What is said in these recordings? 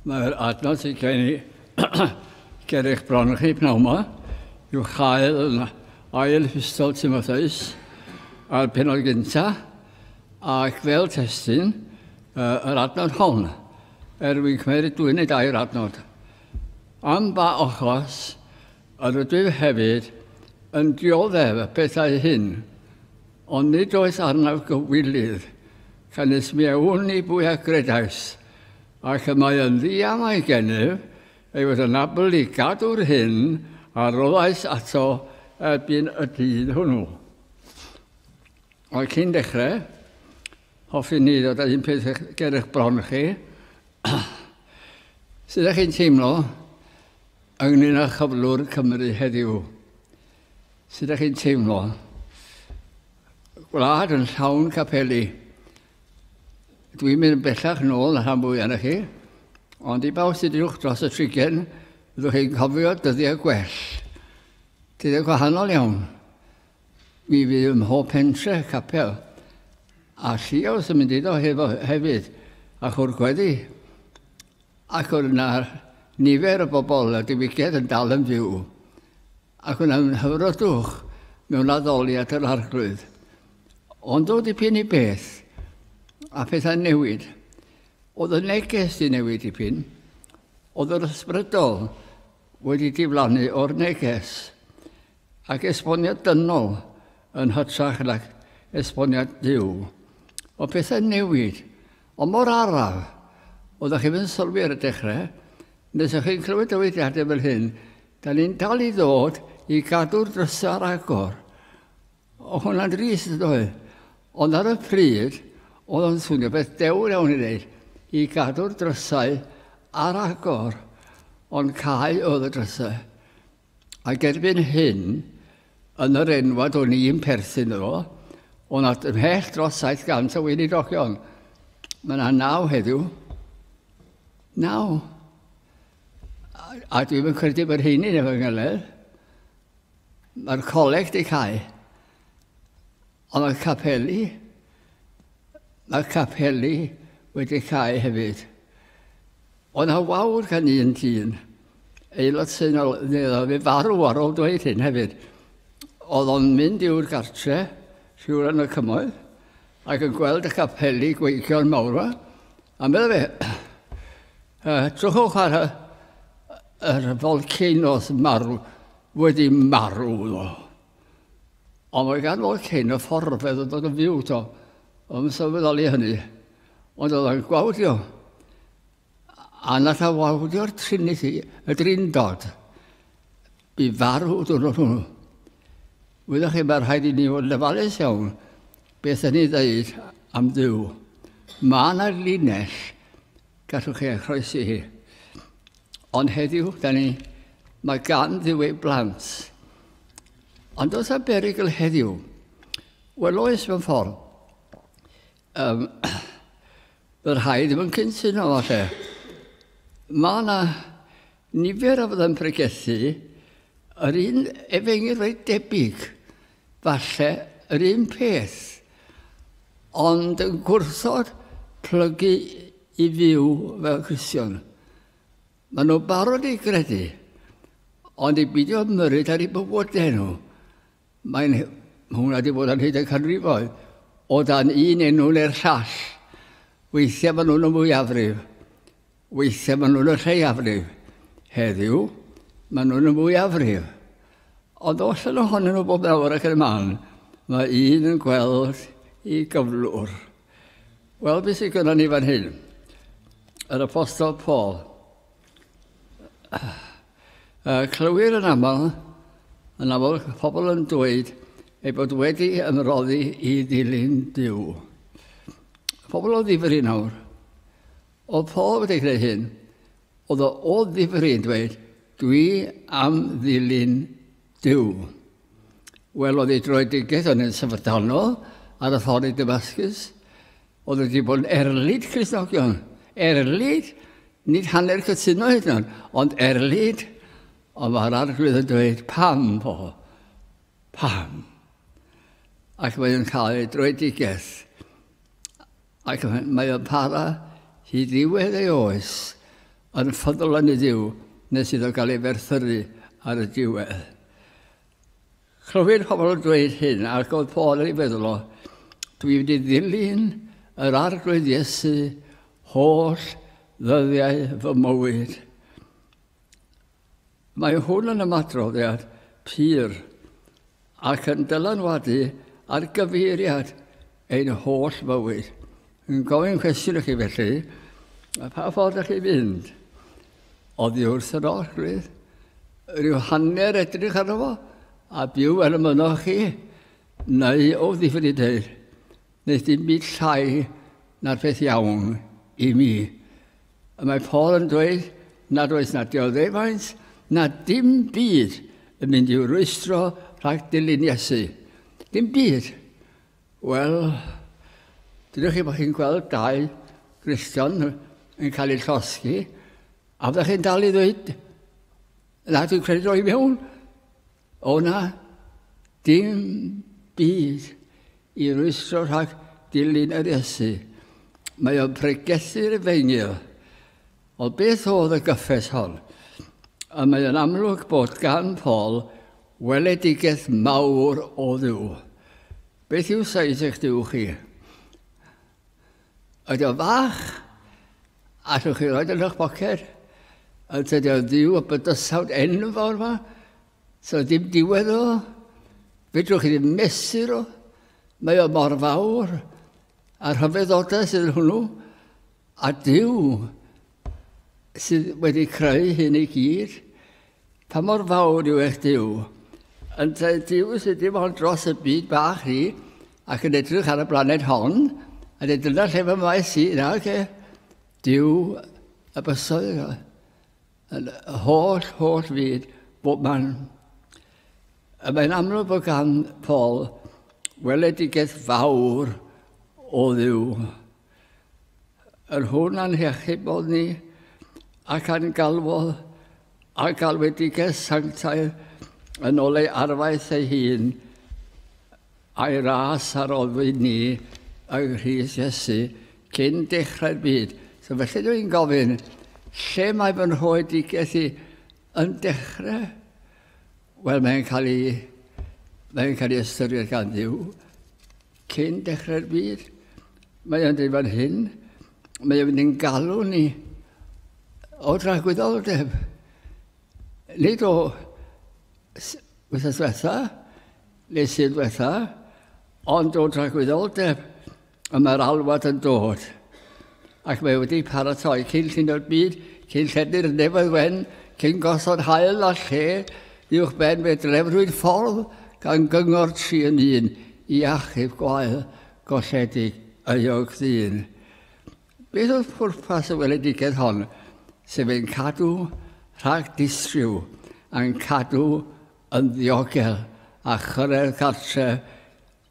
Mae'r adnod sy'n gen i ger eich bron chi pnawn yma yw chael yn ail hystol Timotheus a'r penod gynta ac fel testyn uh, yr adnod hon er wy'n cymryd dwy neu dair adnod. Am ba ochos yr ydw hefyd yn dioddef y pethau hyn Ond nid oes arnaf gywilydd, canys mi a wn i bwy a gredais, ac y mae yn ddiamau gennyf ei fod yn abl i gadw'r hyn a roddais ato erbyn y dydd hwnnw. Ond cyn dechrau, hoffwn ni ddod â un peth ger eich bron chi. Sut ydych chi'n teimlo ynglyn â chyflwr Cymru heddiw? Sut ydych chi'n teimlo? Gwlad yn llawn capeli. Dwi'n mynd yn bellach nôl na rhan fwyaf na chi, ond i bawb sydd uwch dros y trigen, byddwch chi'n cofio dyddiau gwell. Dyddiau gwahanol iawn. Mi fydd ym mhob pentre capel. A lliaws yn mynd iddo hefo hefyd, a chwr gweddi. Ac oedd yna nifer y bobl a diwygiad yn dal yn fyw. a gwnawn hywrodwch mewn addoliad yr Arglwydd. Ond o dipyn i beth, a phethau'n newid. Oedd y neges di newid dipyn, oedd yr ysbrydol wedi diflannu o'r neges, ac esboniad dynol yn hytrach nag esboniad Dyw. O pethau'n newid, Ond mor araf, oeddech chi ddim sylwi ar y dechrau, nes o'ch chi'n clywed dywediadau fel hyn, da ni'n dal i ddod i gadw'r drysau ar agor. O hwnna'n drist yn ddoe. Ond ar y pryd, oedd o'n swnio beth dewr iawn i wneud, i gadw'r drysau ar agor. Ond cael oedd y drysau. Ac erbyn hyn, yn yr enwad o'n i'n perthyn iddo, o nad ymhell dros 700 o weinidogion. Mae yna naw heddiw. Naw. A, a dwi'n yn credu bod hyn i'n efo ngyledd. Mae'r coleg di cael. Ond mae'r capeli, mae'r capeli wedi cau hefyd. Oedd yna wawr gan un dyn, aelod seunol, neu oedd e farw ar ôl dweud hyn hefyd. Oedd o'n mynd i'w'r gartre, siwr yn y cymoedd, ac yn gweld y capeli gweigion mawr yma, a meddwl fe, uh, trwchwch ar y, yr volcanoes marw, wedi marw nhw. Ond mae gan fod cyn y fforfedd yn dod yn fyw to, yn sylweddoli hynny. Ond oedd o'n gwawdio. A nath a wawdio'r Trinity, y Drindod, i farw dwrnod hwnnw. Wyddoch chi, mae rhaid i ni fod yn ofalus iawn beth yn ei ddeud am ddiw. Mae yna linell Gallwch chi ei chroesi hi. Ond heddiw, da ni, mae gan ddiw ei blant. Ond os a berigl heddiw, wel oes mewn ffordd, um, y rhai ddim yn cynsyno falle. Mae yna nifer o fydda'n pregethu yr un efengyl reit debyg Falle yr un peth, ond yn gwrthod plygu i fyw fel Cristion. Mae nhw'n barod i gredu, ond i beidio ymyrryd ar eu bywydau nhw. Mae hwnna wedi bod ar hyd y canrifoedd, o dan un enw neu'r llall. Weithiau maen nhw'n y mwyafrif Weithiau maen nhw'n y lleiafrif. Heddiw, maen nhw'n y mwyafrif. Ond os yn ohonyn nhw bob nawr ac yn y man, mae un yn gweld i gyflwr. Wel, beth sydd gyda ni fan hyn? Yr apostol Paul. Uh, clywir yn aml, yn aml pobl yn dweud ei bod wedi ymroddi i ddilyn Dyw. Pobl o ddifri nawr. O'r ffordd wedi creu hyn, oedd o o ddifri yn dweud, Dwi am ddilyn Duw. Wel, oedd ei droedigaeth o'n yn syfrdanol ar y ffordd i Damascus. Oedd wedi bod yn erlid Crisnogion. Erlid, nid hanner cytuno hyd yn ond erlid. Ond mae'r arglwydd yn dweud, pam fo? Pam? Ac mae'n cael ei droedigaeth Ac mae o'n para hyd ddiwedd ei oes, yn ffyddlon i Dduw, nes iddo gael ei ferthyru ar y diwedd. Clywyd pobl yn dweud hyn, ac oedd Paul yn ei feddwl o, dwi wedi ddilyn yr arglwydd Iesu holl ddyddiau fy mywyd. Mae hwn yn ymadroddiad pur ac yn dylanwadu ar gyfeiriad ein holl fywyd. Yn gofyn cwestiwn i chi felly, a pha ffordd ydych chi'n mynd? Oddi wrth yr orchfydd, rhyw hanner edrych arno fo, a byw fel y mynoch chi, neu o ddifri dweud, nes dim byd llai na'r peth iawn i mi. Y mae Paul yn dweud nad oes na dioddefaint na dim byd yn mynd i'w rwystro rhag dilyn Iesu. Dim byd. Wel, dydych chi bod chi'n gweld dau Gristion yn cael eu llosgi, a fyddech chi'n dal i ddweud, na, dwi'n credu droi mewn. O na, dim byd i rwystro rhag dilyn yr Iesu. Mae o'n pregethu Rufeinig. Ond beth oedd y gyffes hon? A mae o'n amlwg bod gan Paul weledigaeth mawr o Dduw. Beth yw saith eich Duw chi? Ydy o'n fach? Allwch chi roed yn eich boced? Ond tydi o'n ddiw o bydysawd enfawr fa? So dim diwedd o. Fedrwch chi ddim mesur o. Mae o mor fawr. A rhyfeddodau sydd yn hwnnw. A diw, sydd wedi creu hyn i gyd. Pa mor fawr yw eich Dyw? Yntau Dyw sydd dim ond dros y byd bach ni ac yn edrych ar y blaned hon, a dweud dyna lle fy maes i, na, ge? Dyw y bysoedd yno, yn y holl, holl fyd, bob man. A mae'n amlwg bod gan Paul weledigaeth fawr o ddiw. Yr hwn a'n hechybod ni, ac a'n galwodd a galwedigaeth sanctaidd yn ôl ei arfaeth ei hun, a'i ras a roddwyd ni yng Nghrist Iesu cyn dechrau'r byd. So felly dwi'n gofyn, lle mae fy nhoedigaeth i yn dechrau? Wel, mae'n cael ei, mae'n cael ei ystyried gan ddiw. Cyn dechrau'r byd, mae o'n dweud fan hyn, mae o'n mynd i'n galw ni o dragwyddoldeb. Nid o wythnos diwetha, neu sydd diwetha, ond o dragwyddoldeb, y mae'r alwad yn dod. ac mae wedi paratoi cyn llunio'r byd, cyn llenni'r nefoedd wen, cyn gosod hael a lle uwch ben fe drefrwyd ffordd gan gyngor tri yn un i achub gwael golledig euog ddyn. Beth oedd pwrpas y weledigaeth hon, sef ein cadw rhag distriw, a'n cadw yn ddiogel a chyrraedd cartre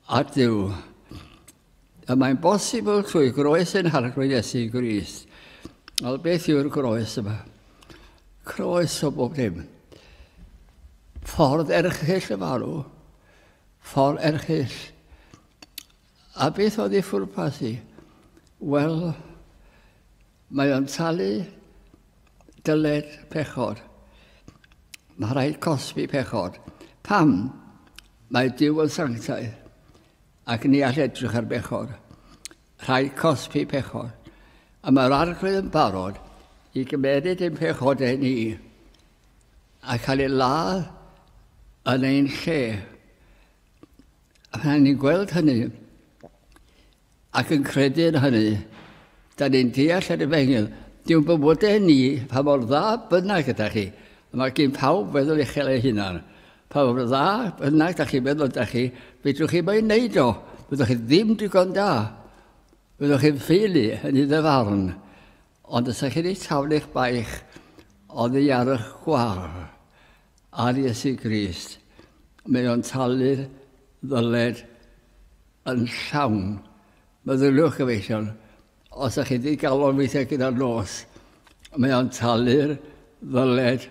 A Duw. Y mae'n bosibl trwy groes ein harglwydd Iesu Grist. Wel, beth yw'r groes yma? Croes o bob dim. Ffordd erchyll y farw. Ffordd erchyll. A beth oedd ei ffwrpas i? Wel, Mae o'n talu dyled pechod. Mae rhaid cosbi pechod. Pam? Mae Dyw yn sanctaidd, ac ni all edrych ar bechod. Rhaid cosbi pechod. A mae'r arglwydd yn barod i gymeryd ein pechodau ni a cael ei ladd yn ein lle. A pan ni'n gweld hynny, Ac yn credu yn hynny, da ni'n deall yr efengyl. Diw'n bywydau ni, pa mor dda bynnag ydych chi, a mae gen pawb feddwl uchel ei hunan. Pa mor dda bynnag da chi'n meddwl ydych chi, fedrwch chi mae'n neud o. Fyddwch chi ddim digon da. Fyddwch chi'n ffeili yn ei ddyfarn. Ond os ych chi wedi taflu eich baich oddi ar y chwar ar Iesu Grist, mae o'n talu'r ddyled yn llawn. Meddyliwch gyfeillion, os ych chi wedi galon weithiau gyda'r nos, mae o'n talu'r ddyled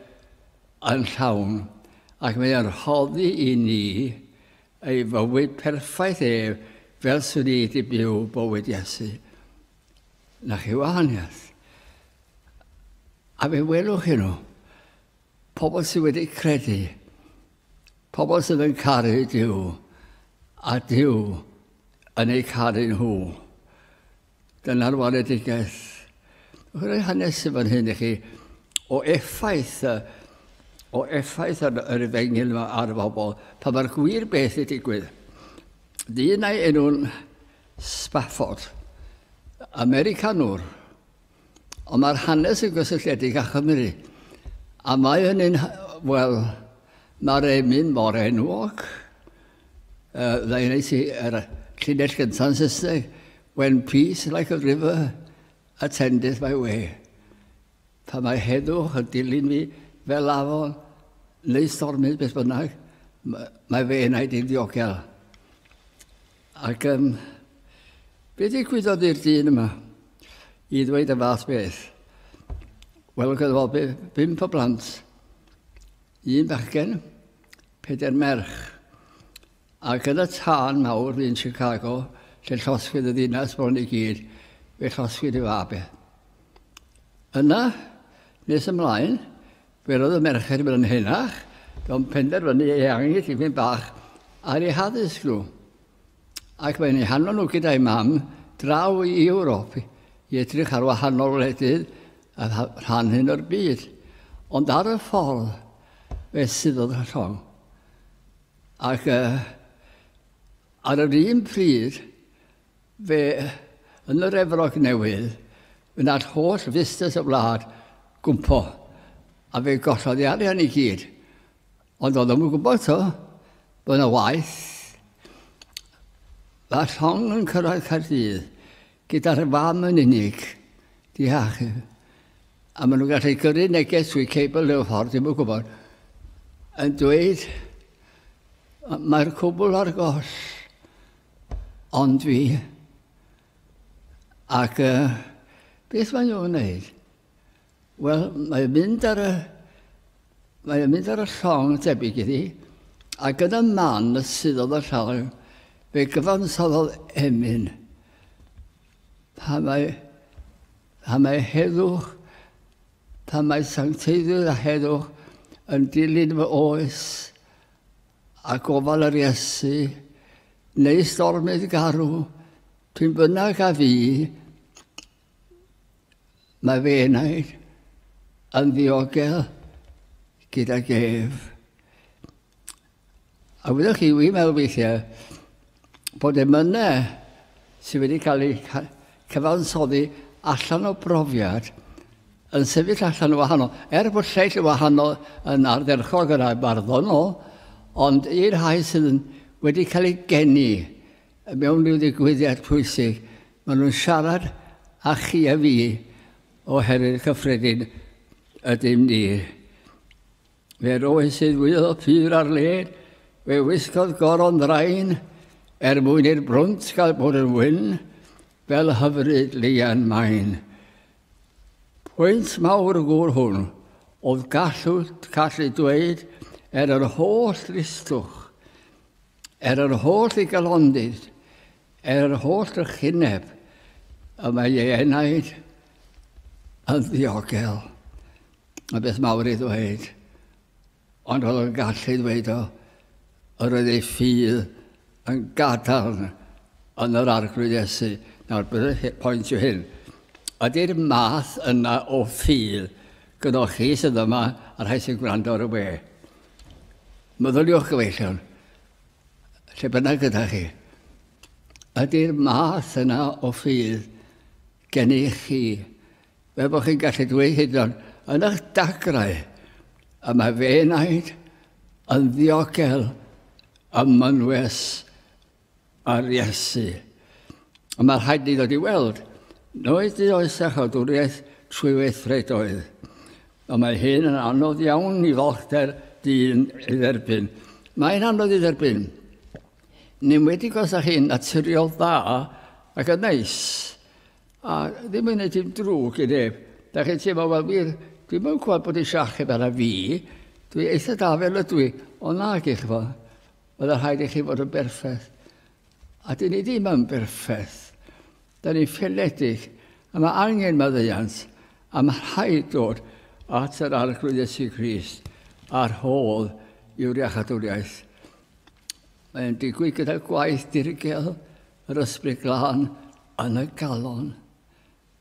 yn llawn ac mae o'n rhoddi i ni ei fywyd perffaith ef fel swn i wedi byw bywyd Iesu. Na chi wahaniaeth. A fe welwch chi nhw, pobl sydd wedi credu, pobl sydd yn caru Dyw, a Dyw yn eu caru nhw. Dyna'r waledigaeth. Rwy'n hanes i fan hyn i chi o effaith y o effaith yr, yr efengil yma ar y bobl, pa mae'r gwir beth i digwydd. Dyn ei enw'n Spafford, Americanwr, ond mae'r hanes yn gysylltiedig â Chymru, a mae hynny'n, wel, mae'r emyn mor enwog. Uh, Dda i wneud yr llinell gyntaf Saesneg, When peace like a river attendeth my way. Pan mae heddwch yn dilyn fi fel afon neu stormydd beth bynnag, mae fy enaid i'n ddiogel. Ac um, be ddigwyddodd i'r dyn yma i ddweud y fath beth? Wel, oedd gyda fo bimp o blant, un bachgen, peder merch. A gyda tân mawr yn Chicago, lle llosgwyd y ddinas bron i gyd, fe llosgwyd y fabe. Yna, nes ymlaen, fe roedd y merched yn mynd yn henach, do'n penderfynu ei angen tipyn bach ar ei haddysg nhw. Ac mae'n ei hanfon nhw gyda'i mam draw i Ewrop i edrych ar wahanol wledydd a rhan hyn o'r byd. Ond ar y ffordd, fe suddodd y llong. Ac ar yr un pryd, fe, yn yr Efrog Newydd, fe wnaeth holl fusnes y wlad gwmpo, a fe gollodd ei arian i gyd. Ond oedd ddim yn gwybod to, bod yna waith. Mae'r llong yn cyrraedd Caerdydd Gyda dy fam yn unig. Diach. A maen nhw'n gallu gyrru neges trwy cebl neu'r ffordd, ddim yn gwybod, yn dweud, mae'r cwbl ar goll, ond fi. Ac uh, beth maen nhw'n gwneud? Wel, mae'n mynd ar y... Mae'n mynd ar y llong debyg iddi, a gyda man y sydd oedd y llong, fe gyfansoddodd emyn. Pa mae, pa mae heddwch, pa mae sancteiddwydd a heddwch yn dilyn fy oes a gofal yr Iesu, neu stormydd garw, pyn bynnag a fi, Mae fy enaid yn ddiogel gyda gef. A wyddoch chi, wi'n meddwl weithiau bod emynau sydd wedi cael eu cyfansoddi allan o brofiad yn sefyll allan o wahanol, er bod lleill o wahanol yn ardderchog yn barddonol, ond i'r rhai sydd yn wedi cael eu geni mewn rhyw ddigwyddiad pwysig, Maen nhw'n siarad â chi a fi oherwydd cyffredin ydym ni. Fe roedd sydd fwyodd pur ar led, fe wisgodd goron ddrain er mwyn i'r brwnt gael bod yn wyn fel hyfryd leian maen. Pwynt mawr y gŵr hwn oedd gallu, gallu dweud er yr holl ddristwch, er yr holl ddigalondydd, Er holl drychineb y mae ei enaid yn ddiogel, y beth mawr i ddweud, ond roedd o'n gallu ddweud o, yr oedd ei ffydd yn gadarn yn yr Arglwydd Iesu. Nawr, bydd y pwynt yw hyn. Ydy'r math yna o ffydd gyda chi sydd yma, a rhai sy'n gwrando ar y we? Meddyliwch gyfeillion, lle bynnag gyda chi. Ydy'r math yna o ffydd gennych chi, fe bod chi'n gallu dweud hyd o'n yn eich dagrau, y mae fe naid yn ddiogel ym mynwes ar Iesu. A mae rhaid ni ddod i weld, noed i oes a chodwriaeth trwy weithredoedd. Ond mae hyn yn anodd iawn i fochdr dyn ei dderbyn. Mae'n anodd ei dderbyn. Yn enwedig os ydych chi'n naturiol dda ac yn neis. A ddim yn gwneud dim drwg i neb. Da chi'n teimlo, wel wir, dwi'n mynd gwybod bod eisiau achub ar y fi. Dwi eitha da fel ydw i. Ond nag i chi fod. Oedd rhaid i chi fod yn berffaith. A dyn ni ddim yn berffaith. Dyn ni'n ffaeledig, a mae angen maddeuant, a mae rhaid dod at yr Arglwydd Iesu Grist a'r hol yw'r iachadwriaeth. Mae'n digwydd gyda gwaith dirgel yr ysbryd glân yn y galon.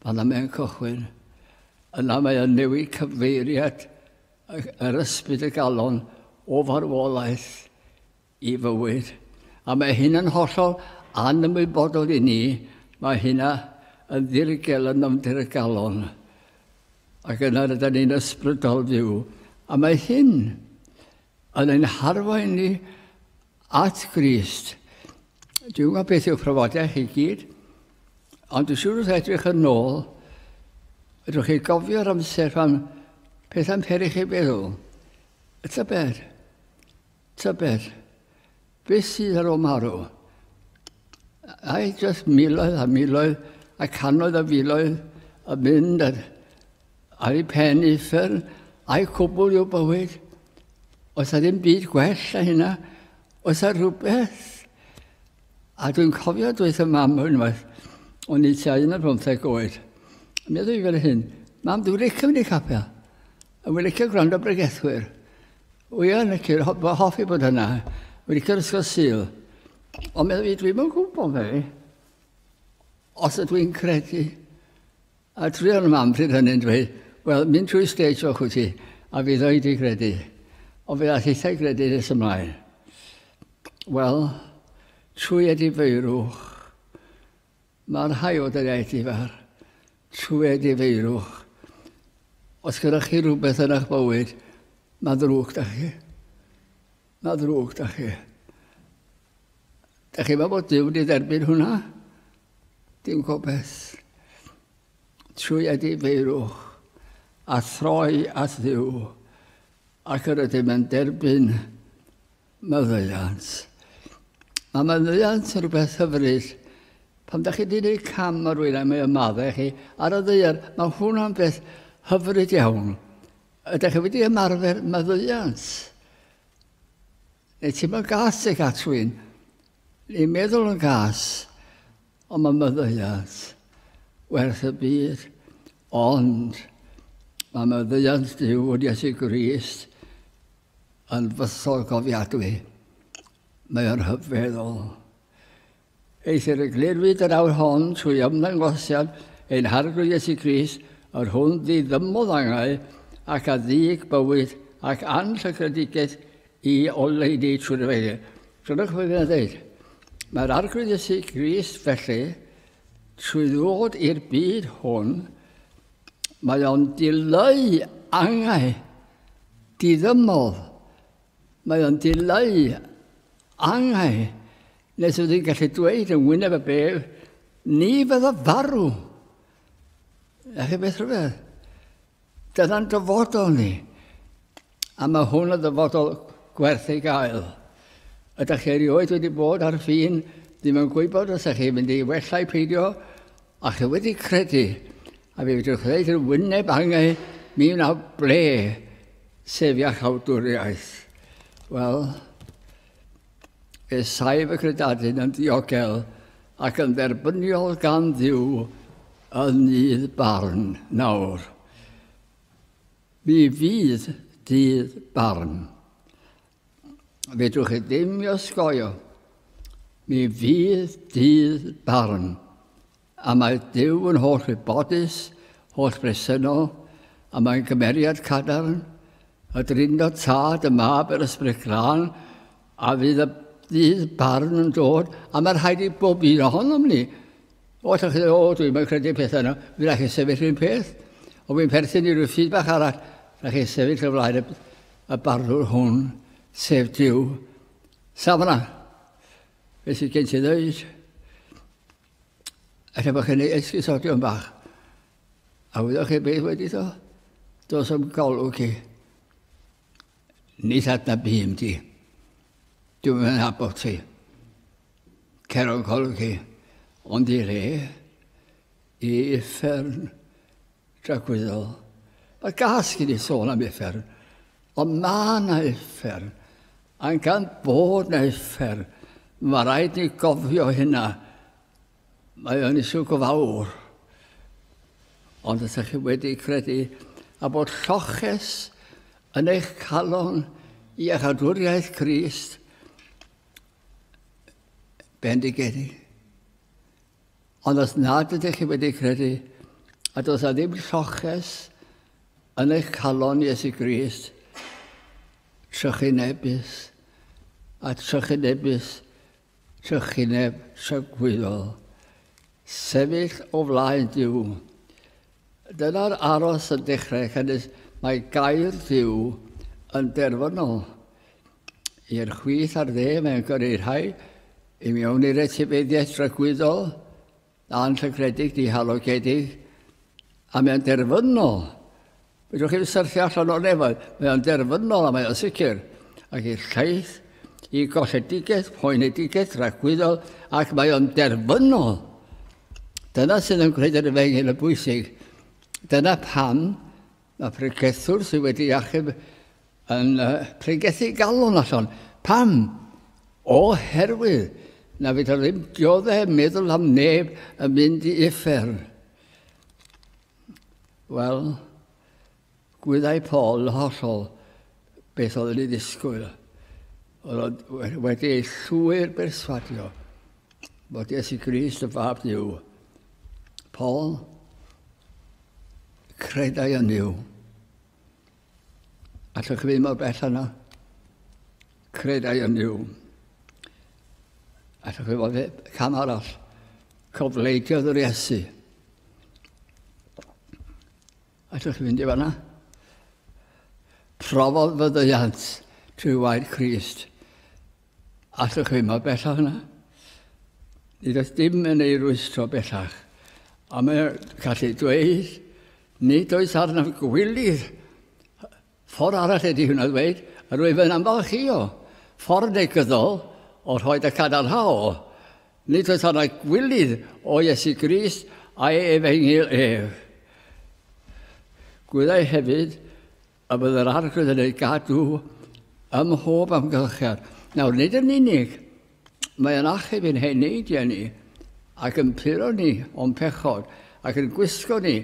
Fanna mae'n cychwyn. Yna mae yn newid cyfeiriad yr ysbryd y galon o farwolaeth i fywyd, a mae hyn yn hollol anymwybodol i ni, mae hynna yn ddirgel yn nofnder y galon, ac yna rydyn ni'n ysbrydol fyw, a mae hyn yn ein harwain ni at Grist. Dwi'n gwybod beth yw'ch profiadau chi gyd, ond dwi'n siŵr wrth edrych yn ôl, ydwch chi gofio'r amser pan pethau'n peri chi feddwl, y tybed, Tybed beth sydd ar ôl marw? Ai jyst miloedd a miloedd a canoedd a filoedd yn mynd ar, ar ei pen uffern a'i cwbl i'w bywyd? Oes a ddim byd gwell a hynna? Oes a rhywbeth? A dwi'n cofio dweud y mam unwaith, o'n i tua un ar bymtheg oed. Meddwl i fel hyn, mam, dwi'n licio mynd i capel. A dwi'n licio gwrando bregethwyr. O ia, na ti, fy hoff i bod yna. Wedi cael ysgol syl. Ond meddwl fi, dwi'n mynd gwybod fe. Os ydw i'n credu. A dwi o'n mam pryd hynny'n dweud, wel, mynd trwy stage o'ch wyt ti, a fi ddoi di credu. Ond fe all eithau credu nes ymlaen. Wel, trwy edifeirwch, Mae rhai o daledu fach trwy difeirwch. Os gyda chi rhywbeth yn eich bywyd, mae ddrwg da chi. Mae ddrwg da chi. Da chi mae bod Dyw wedi dderbyn hwnna? Dim gobeith. Trwy difeirwch a throi at ddiw ac yr ydym yn derbyn Maddeuant. Mae maddeuant yn rhywbeth hyfryd. Pan da chi wedi gwneud cam ar rwy'n a mae o'n maddau chi ar y ddeiar, mae hwnna'n beth hyfryd iawn. Ydych chi wedi ymarfer maddeuant? Neu ti'n meddwl gas eich at rwy'n? Ni'n meddwl yn gas, ond mae maddeuant werth y byd. Ond mae maddeuant Dyw yn Iesu Grist Yn fusol cofiadwy. Mae o'n rhyfeddol. Eithr y glirwyd yr awr hon trwy ymddangosiad ein Harglwydd Iesu Grist, yr hwn ddiddymodd angau ac a ddig bywyd ac anllygredigaeth i oleuni trwy'r efengyl. Dyna beth mae'n dweud. Mae'r Arglwydd Iesu Grist felly, trwy ddod i'r byd hwn, Mae o'n dileu angau diddymol. Mae o'n dileu angau nes oedd hi'n gallu dweud yn wyneb y bef, ni fydda farw. A chi beth rhywbeth? Dyna'n dyfodol ni. A mae hwn yn ddyfodol gwerth ei gael. Ydych chi erioed wedi bod ar fin ddim yn gwybod os ydych chi'n mynd i wella i peidio, a chi wedi credu, a fe fedrwch ddweud yn wyneb angau, mi wna ble, sef iachawdwriaeth. Wel, fe saif y credadun yn ddiogel ac yn dderbyniol gan ddiw yn nydd barn nawr. Mi fydd dydd barn. Fedrwch chi ddim i osgoio. Mi fydd dydd barn. A mae Dyw yn holl wybodus, holl bresennol, a mae'n cymeriad cadarn, y Drindod Tad, y Mab, yr Ysbryd Glân, A fydd y ddydd barn yn dod, a mae rhaid i bob un ohonom ni. O, ydych chi'n o, dwi'n mynd credu pethau yna, fi rhaid chi sefyll un peth. O, fi'n perthyn i rhyw ffyd bach arall, rhaid chi sefyll y flaen y, y barddwr hwn, sef Dyw. Safna, fe sydd gen ti ddweud, efallai bod chi'n ei esgusodion bach. A wyddoch chi beth wedi ddo? Dos am golwg chi. Nid adnab bum di. Dwi'n yn abod ti. Cer o'n golwg i. Ond i re, i uffern dragwyddol. Mae gas gen i sôn am uffern. Ond mae na uffern. A'n gan bod na uffern, mae rhaid ni gofio hynna. Mae o'n isw go fawr. Ond os ydych chi wedi credu a bod lloches yn eich calon i eich adwriaeth Crist, bendigedig. Ond os nad ydych chi wedi credu, a does a ddim lloches yn eich calon Iesu Grist, trychinebus, a trychinebus trychineb tragwyddol, sefyll o flaen Duw. Dyna'r aros yn dechrau cynnwys mae gair Duw yn derfynol i'r chwith a'r dde mae'n gyrru rhai i mewn i'r etifeddiaeth dragwyddol Anrhegredig, dihalogedig, a mae'n derfynol. Fedrwch chi'n syrthio allan o'r nefoedd. Mae o'n derfynol a mae o'n sicr. Ac i'r llaeth, i golledigaeth, poenedigaeth, rhagwyddol, ac mae o'n derfynol. Dyna sydd yn gwneud yr efengyl yn bwysig. Dyna pam Mae pregethwr sydd wedi achub yn pregethu galon allan. Pam? Oherwydd na fydda ddim dioddef meddwl am neb yn mynd i uffern. Wel, gwyddau Paul yn hollol beth oedd yn ei ddisgwyl. Oedd wedi ei llwyr berswadio bod Iesu Grist y fab Dyw. Paul, Credai yn yw. Allwch chi fynd mor bell yna? Credai yn yw. Allwch chi fod cam arall? Cofleidio yr Iesu. Allwch chi fynd i fanna? Profodd fyddiant trwy waed Christ. Allwch chi mor bellach na. Nid oes dim yn ei rwystro bellach. A mae'n gallu dweud, nid oes arnaf gwylidd. Ffordd arall ydy hwnna ddweud, a rwyf yn amfalchio ffordd negyddol o rhoi y cadarnhaol. Nid oes arnaf gwylidd o Iesu Grist a'i efengyl ef. Gwyddai hefyd A bydd yr Arglwydd yn ei gadw ym mhob amgylchedd. Nawr, nid yn unig, mae yn achub yn hen neidiau ni, ac yn puro ni o'n pechod, ac yn gwisgo ni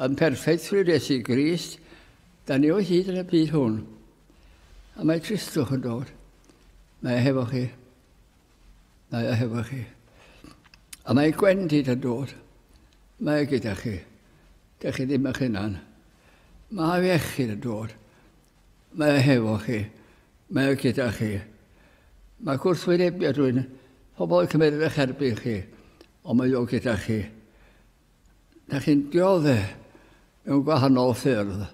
yn perffeithrwydd Iesu Grist, da ni o hyd yn y byd hwn. A mae Cristwch yn dod. Mae e hefo chi. Mae e hefo chi. A mae gwendid yn dod. Mae e gyda chi. Dych chi ddim eich hunan. Mae iechyd yn dod. Mae e hefo chi. Mae e gyda chi. Mae gwrthwynebio dwi'n pobl yn cymryd eich erbyn chi, ond mae o gyda chi. Da chi'n diodde mewn gwahanol ffyrdd,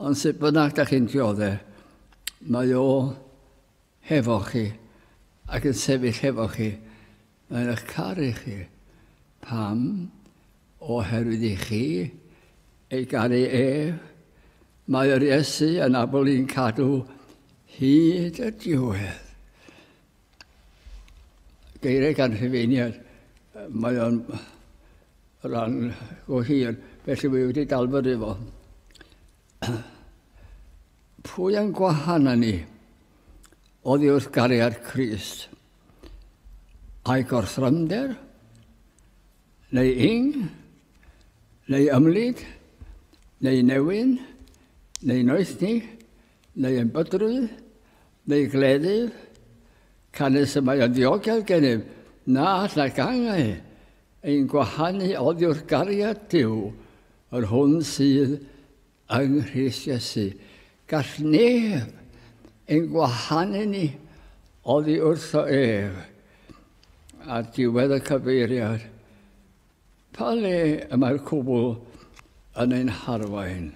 ond sut bynnag da chi'n diodde, mae o hefo chi ac yn sefyll hefo chi. Mae eich caru chi. Pam? Oherwydd i chi ei garu ef. Mae yr Iesu yn abl i'n cadw hyd y diwedd. Geiriau gan rhyfeiniad. Mae o'n rhan go hir, felly mae wedi dalfod efo. Pwy yn gwahan ni? Oddi wrth gariad Christ. a'i gorthrymder, neu ing, neu ymlid, neu newyn, neu noethni, neu yn bydrwydd, neu gleddyf, canys y mae yn ddiogel gennym na allai gangau ein gwahanu oddiwrth gariad Duw, yr hwn sydd Yng Nghrist Iesu, gall neb ein gwahanu ni oddi wrtho ef. Ar diwedd y cyfeiriad, pa le y mae'r cwbl yn ein harwain?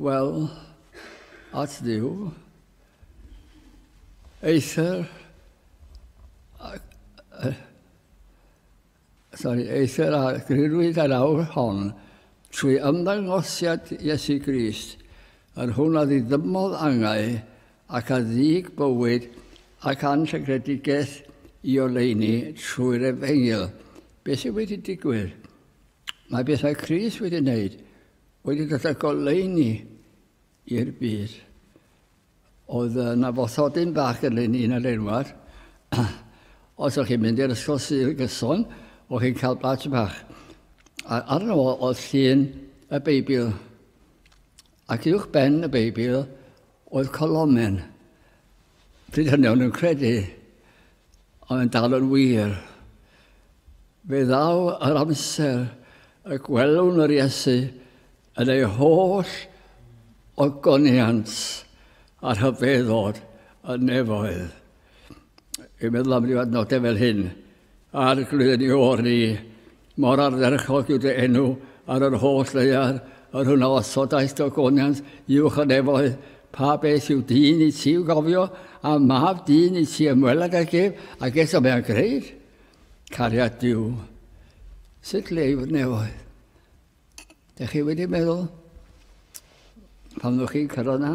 Wel, at Dduw, eithr, Sori, eithr a grirwyd yr awr hon trwy ymddangosiad Iesu Grist, yr hwn a ddiddymodd angau ac a ddug bywyd ac anrhygredigaeth i oleuni trwy'r Efengyl. Beth sydd wedi digwydd? Mae beth mae Crist wedi wneud wedi dod â goleuni i'r byd. Oedd yna fothodyn bach gyda ni yn yr enwad. Os o'ch chi'n mynd i'r ysgol sydd yn gyson, o'ch chi'n cael badge bach. A arno fo oedd llun y Beibl. Ac uwch ben y Beibl oedd colomen. Pryd hynny o'n nhw'n credu, ond yn dal yn wir. Fe ddaw yr amser y gwelwn yr Iesu Yn ei holl ogoniant a rhyfeddod y nefoedd, i meddwl am ryw adnodau fel hyn, a'r glwyni o'r ni, mor ardderchog yw dy enw ar yr holl ddeiar, yr hwn a osodaeth dogoniant uwch y nefoedd, pa beth yw dyn i ti i'w gofio, a mab dyn i ti ymweled ag ef, ac eto mae'n greid. Cariad Duw, sut leiw'r nefoedd? Dych chi wedi meddwl, pan ddwch chi'n cyrraedd na,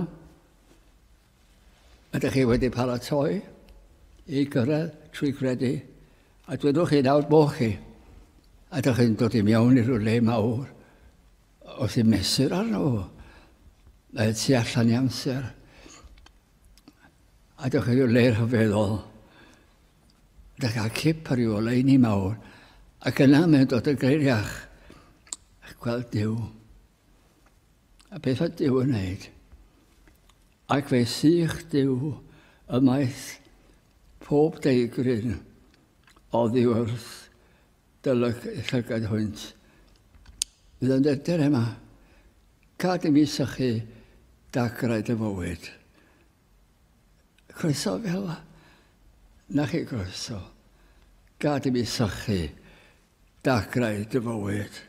ydych chi wedi paratoi i gyrraedd trwy gredu, a dwedwch chi nawr bo chi, a dych chi'n dod i mewn i rhywle mawr, wrth i mesur arno fo, y tu allan i amser, a dych chi'n rhywle rhyfeddol, Da gael cip ar ei oleuni mawr, ac yna mae'n dod y greiriach a gweld Dyw. A beth oedd Dyw yn wneud? Ac fe sych Dyw ymaith pob deigryn oddi wrth dylyg llygad hwynt. Bydd yn dydr yma, gad i mi sychu dagrau dy fywyd. Croeso fel na chi groeso. Gad i mi sychu dagrau dy fywyd.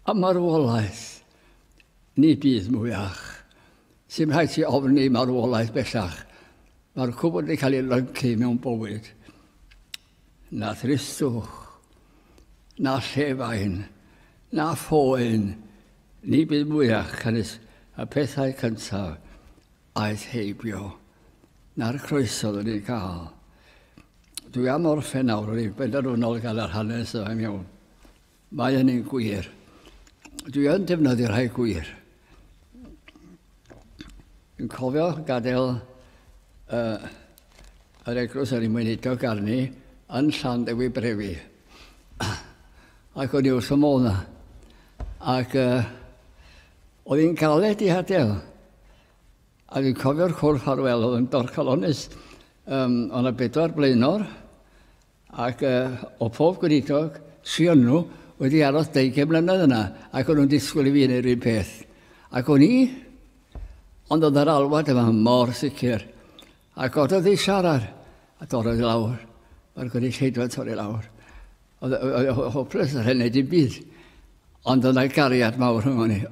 A marwolaeth ni bydd mwy ach. Sy'n rhaid ti ofni marwolaeth bellach. Mae'r cwbl wedi cael ei lyncu mewn bywyd. Na thristwch, na llefain, na phoen, ni byd mwyach canys y pethau cyntaf aeth heibio, na'r croeso oeddwn ni'n cael. Dwi am orffen nawr, rwy'n benderfynol gan yr hanes yma'n iawn. Mae hynny'n gwir. Dwi yn defnyddio rhai gwir. Yn cofio gadael uh, yr eglwys ar ei mwynidog arni yn llan dewi brefi. Ac o'n i wrth y modd na. Ac uh, oedd hi'n galed i hadael. A dwi'n cofio'r cwrdd ffarwel oedd yn dorcalonus. Um, o'n y bedwar blaenor ac o pob gweinidog sy yn nhw wedi aros deugain mlynedd yna, ac o'n nhw'n disgwyl i fi wneud yr un peth. Ac o'n i, ond oedd yr alwad yma mor sicr. A gododd ei siarad, a dorrodd i lawr. Mae'r gynulleidfa torri lawr. Oedd e hopeless, oedd e'n neud i'n byd. Ond oedd yna gariad mawr rhwng ni.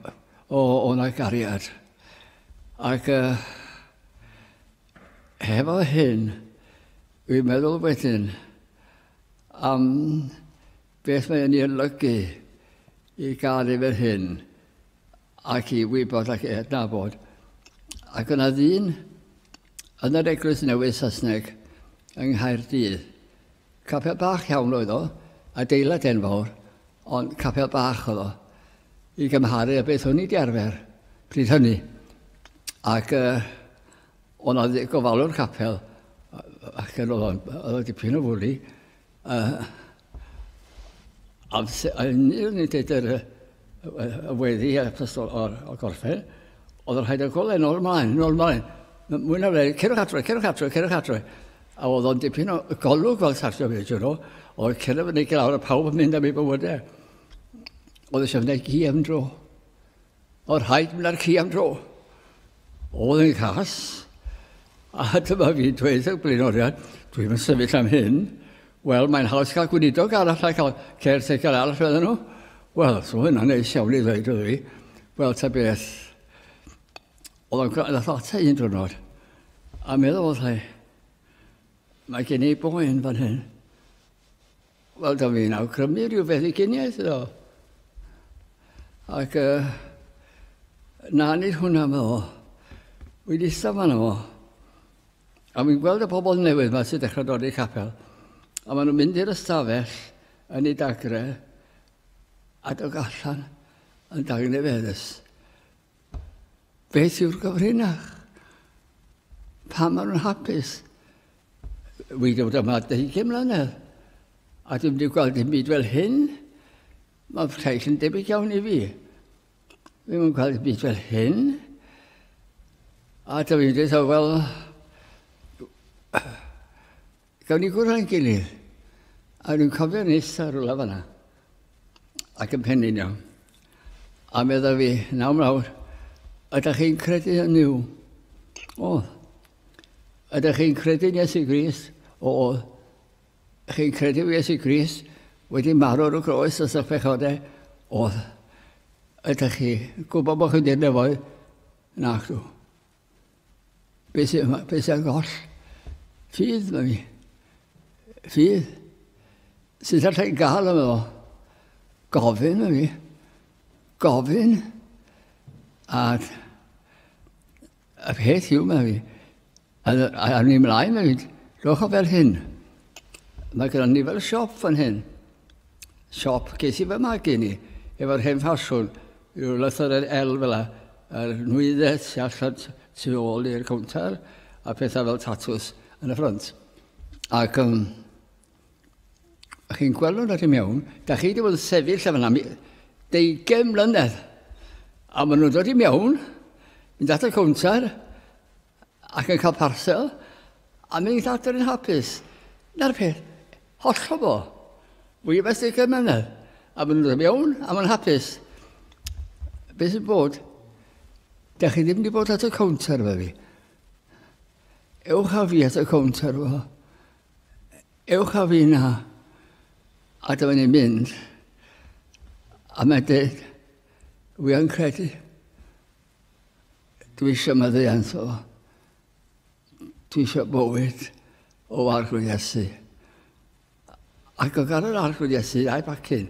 O, oedd yna gariad. Ac... Uh, Hefo hyn, dwi'n meddwl wedyn am beth mae'n ei olygu i gael ei fel hyn ac i wybod ac i adnabod. Ac yna ddyn yn yr Eglwys Newydd Saesneg yng Nghaerdydd. Capel bach iawn oedd o, adeilad enfawr, ond capel bach oedd o i gymharu a beth o'n i wedi arfer pryd hynny. Ac uh, Ond oedd y gofalwr capel, ac yn oedd o'n dipyn o fwli, yn un yn dweud yr y weddi a pysgol o'r, o'r gorffen, oedd yn rhaid y golau nôl ymlaen, nôl ymlaen. Mwy na fe, cerwch adre, cerwch adre, cerwch adre. A oedd o'n dipyn o golwg fel sartio fe, ti'n nhw. Oedd cerwch yn ei glawr a pawb yn mynd am ei bywydau. Oedd eisiau gwneud gi am dro. O rhaid mnarci am dro. Oedd yn cas. A dyma fi'n dweud y blaenoriaid, dwi'n yn sefyll am hyn. Wel, mae'n haws cael gweinidog arall a cael caretaker arall fydden nhw. Wel, so hynna'n neis iawn i ddweud oedd fi. Wel, ta beth. Oedd o'n gael ata un drwnod. A meddwl, oedd Mae gen i boen fan hyn. Wel, da fi'n awgrymu rhyw feddyginiaeth iddo. Ac uh, na nid hwnna mae o. Wy ddistaw fan o. A fi'n gweld y pobl newydd yma sy'n dechrau dod i'r capel. A maen nhw'n mynd i'r ystafell yn ei dagre a dod allan yn dagnefeddus. Beth yw'r gyfrinach? Pa maen nhw'n hapus? Wy ddod yma 20 mlynedd, a dwi'n wedi gweld dim byd fel hyn. Mae llais yn debyg iawn i fi. Fi ddim yn gweld dim byd fel hyn. A dwi'n dweud, wel, Gawn ni gwrdd â'n gilydd. A dwi'n cofio nes ar rwla fanna. Ac yn pennu'n iawn. A medda fi, naw mlawr, ydych chi'n credu yn yw? O. Ydych chi'n credu yn Iesu Gris? O. Chi'n credu yn Iesu Gris? Wedi marw ar y groes os ych pechodau? O. Ydych chi gwybod bod chi'n dyn nefoedd? Nac dw. Beth yw yma? Beth yw'r goll? Ffydd, mae mi. Ffydd. Sut allai gael yma fo? Gofyn, mae mi. Gofyn. A y peth yw, mae mi. A, a, a ni mlaen, mae mi. Rhowch o fel hyn. Mae gyda ni fel siop fan hyn. Siop, ges i fy magu ni efo'r hen ffasiwn, rhyw lythyren el fel la, a'r nwyddes sy allan tu ôl i'r cownter, a pethau fel tatws yn y ffrant. Ac um, chi'n gweld nhw'n rhaid i mewn, da chi wedi bod yn sefyll efo yna deugen mlynedd, a maen nhw'n dod i mewn, mynd at y cownter, ac yn cael parsel, a mi ni'n adr yn hapus. Na'r peth, hollol bo. Fwy o beth i'r mynedd. A maen nhw'n mewn, a maen hapus. Be sy'n bod? Da chi ddim wedi bod at y cownter fe fi. Ewch a fi at y cownter fo. Ewch a fi na. A dyma ni'n mynd. A mae'n dweud, wi yn credu Dwi eisiau meddiant o. Dwi eisiau bywyd o arglwydd Iesu. Ac o gan yr arglwydd Iesu a'i bacyn,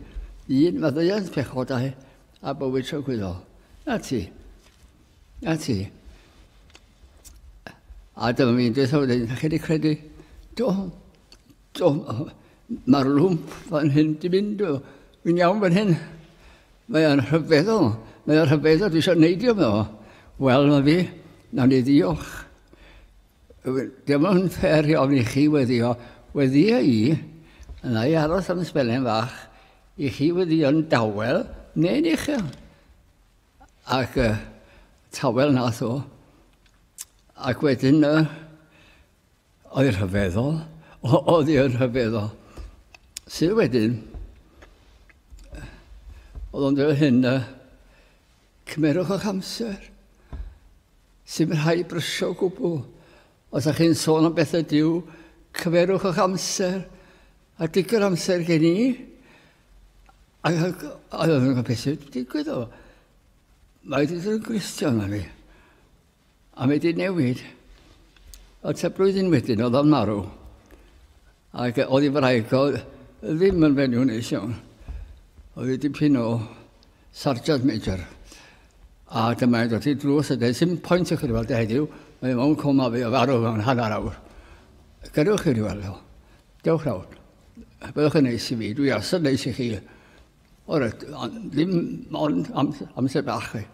un meddiant pechodau a bywyd trygwyddol. Na ti. Na ti. A dyma fi'n dweud o wedyn, chi wedi credu, do, do, mae'r lwmp fan hyn di mynd, fi'n iawn fan hyn. Mae o'n rhyfeddol, mae o'n rhyfeddol, dwi eisiau neidio fo. Wel, mae fi, nawn ni ddiolch. Dyma yn ffer i ofni chi weddio, weddio i, yna i aros am sbelen fach, i chi weddio'n dawel neu'n uchel. Ac uh, tawel nath o. Ac wedyn, uh, Oedd yn rhyfeddol. Oedd yn rhyfeddol. Sydd wedyn, oedd o'n dweud hyn, uh, cymerwch o'ch amser. Sy'n rhai brysio o gwbl. Os ydych chi'n sôn am bethau diw, cymerwch o'ch amser. A digwydd amser gen i. A oedd o'n gwybod beth sy'n digwydd o. Mae wedi dod yn gristion na fi. A wedi newid. A ta blwyddyn wedyn oedd o'n marw. Ac oedd ei wraig o ddim yn fenyw neis iawn. Oedd ei dipyn o sargeant major. A dyma e'n dod i drws a dweud, sy'n pwynt i chi weld e heddiw, mae mewn coma fi o farw mewn hanner awr. Gadewch chi weld o. Dewch nawr. Byddwch yn neis i fi, dwi asod neis i chi. O'r ddim ond amser bach chi.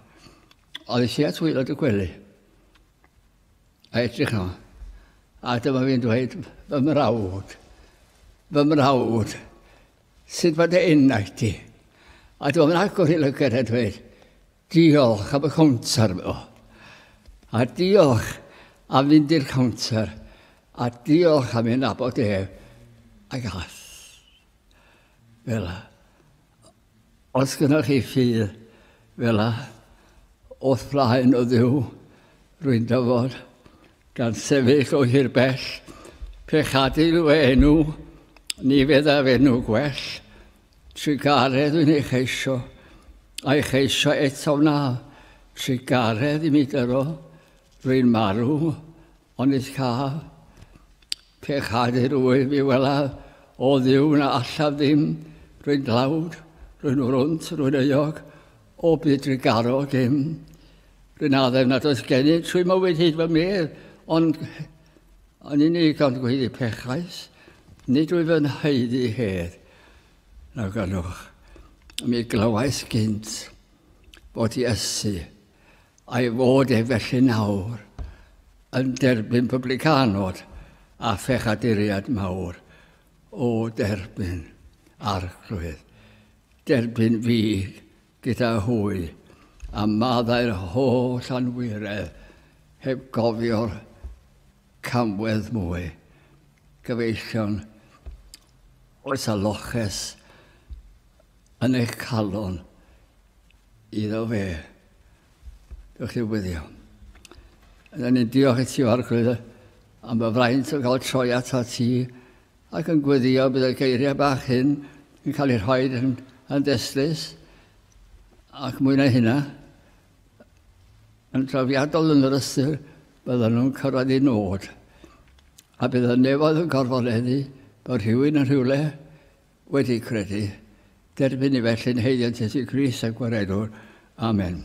Oedd i at waelod y gwely a edrych yno. A dyma fi'n dweud, fy mrawd, fy mrawd, sut mae dy enau ti? A dyma fi'n agor i lygad a dweud, diolch am y cownter mi o. A diolch am fynd i'r cownter a diolch am ei nabod ef a gath. Fel Os gynnoch chi ffydd fela o'th flaen o Dduw, rwy'n dyfod, gan sefyll o hir bell, pe chadil fy enw, ni feddaf enw gwell. Trugaredd wy'n ei cheisio, a'i cheisio eto wna, trugaredd i mi gyrro, rwy'n marw, onid caf? Pe chadir wyf fi welaf o Dduw na allaf ddim, rwy'n dlawd, rwy'n wrwnt, rwy'n euog, o byd drigaro dim. Rwy'n addef nad oes gennyf, trwy mywyd hyd fy medd, ond yn unig ond gweiddi pechais, nid wyf yn haeddu hedd, na ganwch. Mi glywais gynt fod Iesu A'i fod e felly nawr yn derbyn publicanod a phechaduriad mawr o derbyn Arglwydd, derbyn fi gyda hwy, a maddau'r holl anwiredd heb gofio'r camwedd mwy, gyfeillion oes a loches, Yn eich calon iddo fe. Diolch i'r wyddio. Yna ni'n diolch i ti, Arglwydd, am y fraint o gael troi ato ti ac yn gwyddio bydd y geiriau bach hyn yn cael eu rhoi yn, yn destlus ac mwy na hynna yn drafiadol yn yr ystyr bydden nhw'n cyrraedd i nod a bydd y nefoedd yn gorfoleddu bod rhywun yn rhywle wedi credu, derbyn ni felly'n heiliad Iesu Grist a Gwaredwr. Amen.